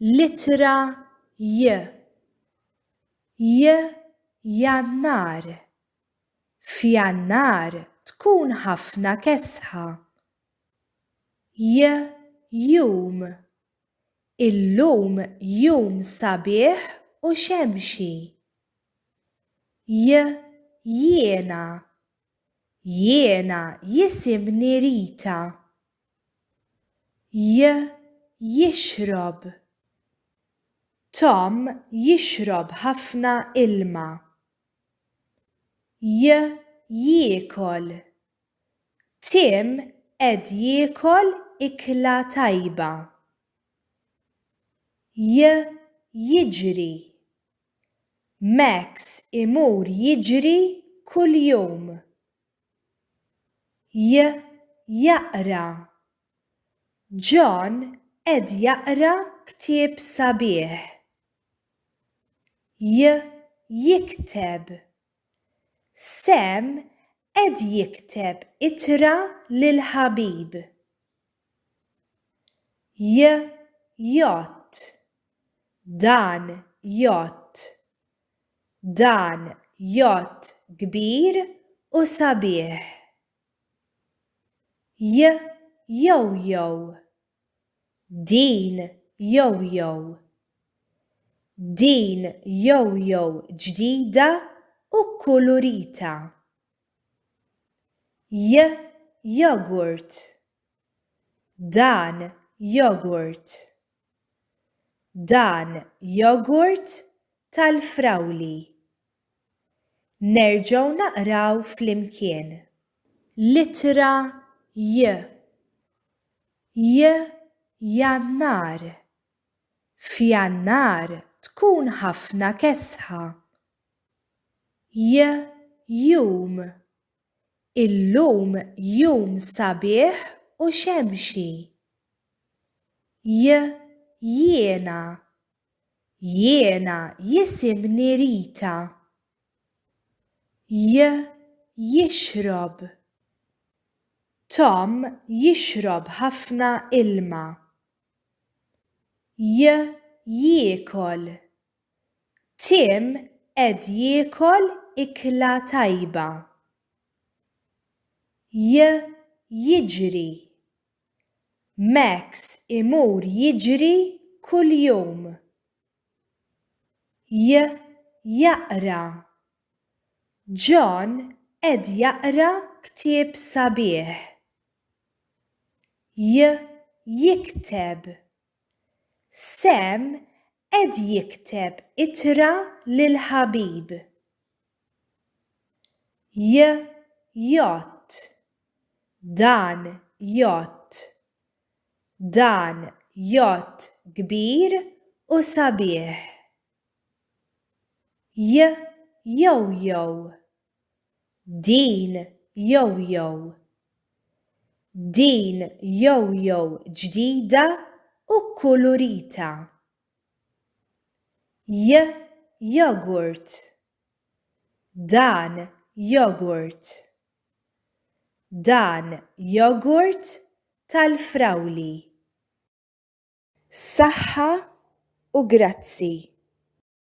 L-ittra J. J Jannar F'Jannar tkun ħafna kesħa. J Jum Illum jum sabiħ u xemxi. J Jiena Jiena jisimni Rita. J jixrob Tom jixrob ħafna ilma. J jiekol Tim qed jiekol ikla tajba. J jiġri Max imur jiġri kuljum. J jaqra. John qed jaqra ktieb sabiħ. J jikteb. Sam qed jikteb ittra lil ħabib. J jott Dan jott Dan jott kbir u sabiħ J jowjow Din jowjow Din jowjow ġdida u kkulurita. y jogurt dan jogurt dan jogurt tal-frawli nerġgħu naqraw flimkien l-ittra y y jannar f'jannar tkun ħafna kesħa Jum, Illum jum sabiħ u xemxi. Jiena, Jiena jisimni Rita. Jixrob, Tom jixrob ħafna ilma. Jiekol, Tim qed jiekol ikla tajba. J jiġri. Max imur jiġri kuljum. J jaqra. John qed jaqra ktieb sabiħ. J jikteb. Sam qed jikteb ittra lil ħabib. J jgħodd. Dan jgħodd. Dan jgħodd kbir u sabiħ. J jowjow. Din yo-yow. Din yo-yow ġdida u kkulurita. Y-yogurt. Dan jogurt. Dan jogurt tal-frawli. Saħħa u grazzi.